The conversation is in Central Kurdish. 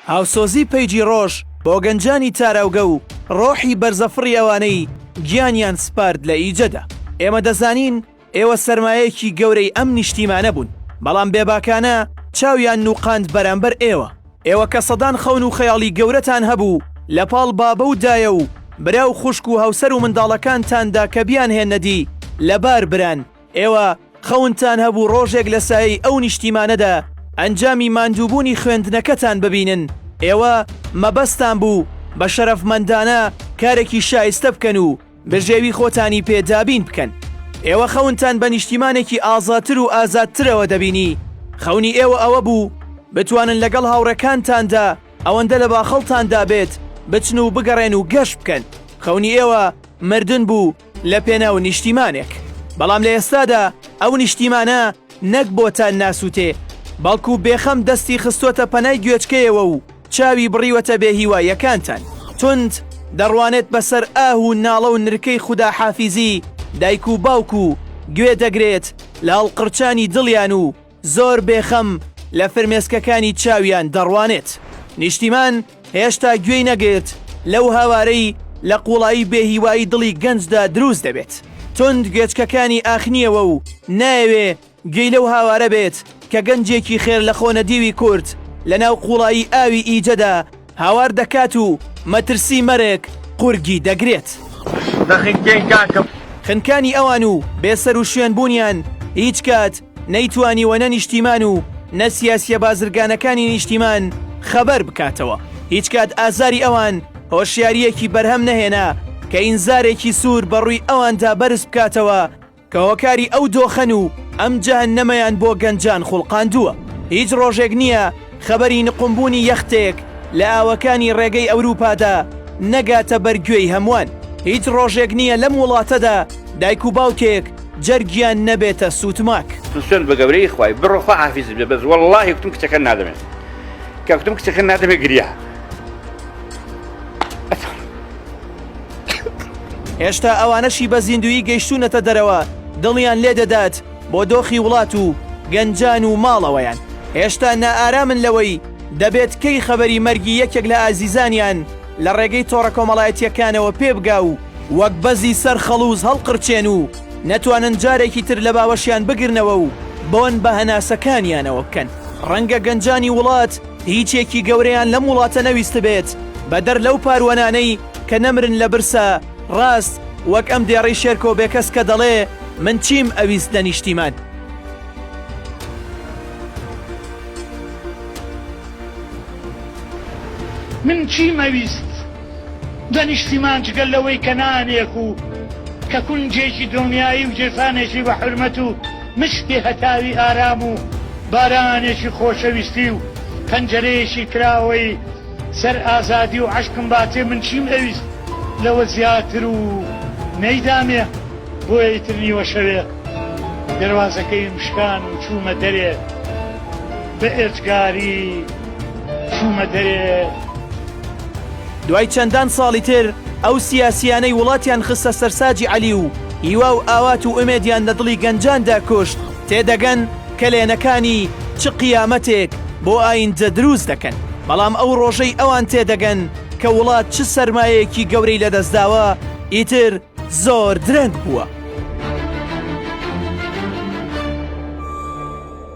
هاوسۆزی پەیجی ڕۆژ بۆ گەنجانی تاراوگە و ڕۆحی بەرزەفڕی ئەوانەی گیانیان سپارد لە ئیجەدا. ئێمە دەزانین ئێوە سەرمایەیەکی گەورەی ئەم نیشتیمانە بوون، بەڵام بێباکانە چاویان نووقاند بەرامبەر ئێوە. ئێوە کە سەدان خەون و خەیاڵی گەورەتان هەبوو لە پاڵ بابە و دایە و برا و خوشک و هاوسەر و منداڵەکانتاندا کە بیانهێننە دی، لەبار بران. ئێوە خەونتان هەبوو ڕۆژێک لە سایەی ئەو نیشتیمانەدا ئەنجامی ماندووبوونی خوێندنەکەتان ببینن، ئێوە مەبەستتان بوو بە شەرەفمەندانە کارێکی شایستە بکەن و بژێوی خۆتانی پێ دابین بکەن. ئێوە خەونتان بە نیشتیمانێکی ئازاتر و ئازادترەوە دەبینی، خەونی ئێوە ئەوە بوو بتوانن لەگەڵ هاوڕێکانتاندا ئەوەندە لە باخەڵتاندا بێت بچن و بگەڕێن و گەشت بکەن، خەونی ئێوە مردن بوو، لە پێناو نیشتیمانێک، بەڵام لە ئێستادا ئەو نیشتیمانە نەک بۆتان ناسووتێ، بەڵکو بێخەم دەستی خستۆتە پەنای گوێچکەیەوە و چاوی بڕیوەتە بێ هیواییەکانتان. توند دەڕوانێت بەسەر ئاه و ناڵە و نرکەی خوداحافیزی دایک و باوک و گوێ دەگرێت لە هەڵقرچانی دڵیان و، زۆر بێخەم لە فرمێسکەکانی چاویان دەڕوانێت. نیشتیمان هێشتا گوێی نەگرت لەو هاوارەی لە قوڵایی بێهیوایی دڵی گەنجدا دروست دەبێت. توند گوێچکەکانی ئاخنیەوە و نایەوێ گوێی لەو هاوارە بێت کە گەنجێکی خێرلەخۆنەدیوی کورد لەناو قوڵایی ئاوی ئیجەدا، هاوار دەکات و مەترسی مەرگ قورگی دەگرێت. دەخنکێن کاکم. خنکانی ئەوان و بێسەروشوێن بوونیان هیچ کات نەیتوانیوە نە نیشتیمان و نە سیاسیە بازرگانەکانی نیشتیمان خەبەر بکاتەوە، هیچ کات ئازاری ئەوان هۆشیاریەکی بەرهەم نەهێنا کە ئینزارێکی سوور بەڕووی ئەواندا بەرز بکاتەوە، کە هۆکاری ئەو دۆخەن و ئەم جەهەننەمەیان بۆ گەنجان خوڵقاندووە. هیچ ڕۆژێک نییە خەبەری نقومبوونی یەختێک لە ئاوەکانی ڕێگەی ئەوروپادا نەگاتە بەر گوێی هەمووان. هیچ ڕۆژێک نییە لەم وڵاتەدا دایک و باوکێک جەرگیان نەبێتە سوتماک. من سوێند بە گەورەی خوای بڕۆ خوا حافیزت بێ بەس وەڵاهی کوتم کچەکەت نادەمێ کە کوتم کچەکەت نادەمێ گریا. هێشتا ئەوانەشی بە زیندویی گەیشتوونەتە دەرەوە دڵیان لێ دەدات بۆ دۆخی وڵات و گەنجان و ماڵەوەیان هێشتا نائارامن لەوەی دەبێت کەی خەبەری مەرگی یەکێک لە ئازیزانیان لە ڕێگەی تۆڕە کۆمەڵایەتیەکانەوە پێبگا و وەک بەزی سەر خەڵوز هەڵقرچێن و نەتوانن جارێکی تر لە باوەشیان بگرنەوە و بۆن بە هەناسەکانیانەوە بکەن ڕەنگە گەنجانی وڵات هیچێکی گەورەیان لەم وڵاتە نەویستبێت بەدەر لەو پاروەنانەی کە نەمرن لە برسا، ڕاست وەک ئەم دێڕەی شێرکۆ بێکەس کە دەڵێ من چیم ئەویست لە نیشتیمان. من چیم ئەویست؟ دە نیشتیمان جگە لەوەی کە نانێک و کە کونجێکی دڵنیایی و گیرفانێکی بە حورمەت و مشکی هەتاوی ئارام و بارانێکی خۆشەویستی و پەنجەرەیەکی کراوەی سەر ئازادی و عەشقم باتێ من چیم ئەویست لەوە زیاتر و نەیدامێ بۆیە ئیتر نیوەشەوێ دەروازەکەیم شکان و چوومە دەرێ بە ئێجگاری چوومە دەرێ. دوای چەندان ساڵی تر ئەو سیاسیانەی وڵاتیان خستە سەرساجی عەلی و هیوا و ئاوات و ئومێدیان لە دڵی گەنجاندا کوشت تێدەگەن کەلێنەکانی چ قیامەتێک بۆ ئایندە دروست دەکەن بەڵام ئەو ڕۆژەی ئەوان تێدەگەن کە وڵات چ سەرمایەکی گەورەی لەدەستداوە ئیتر زۆر درەنگ بووە.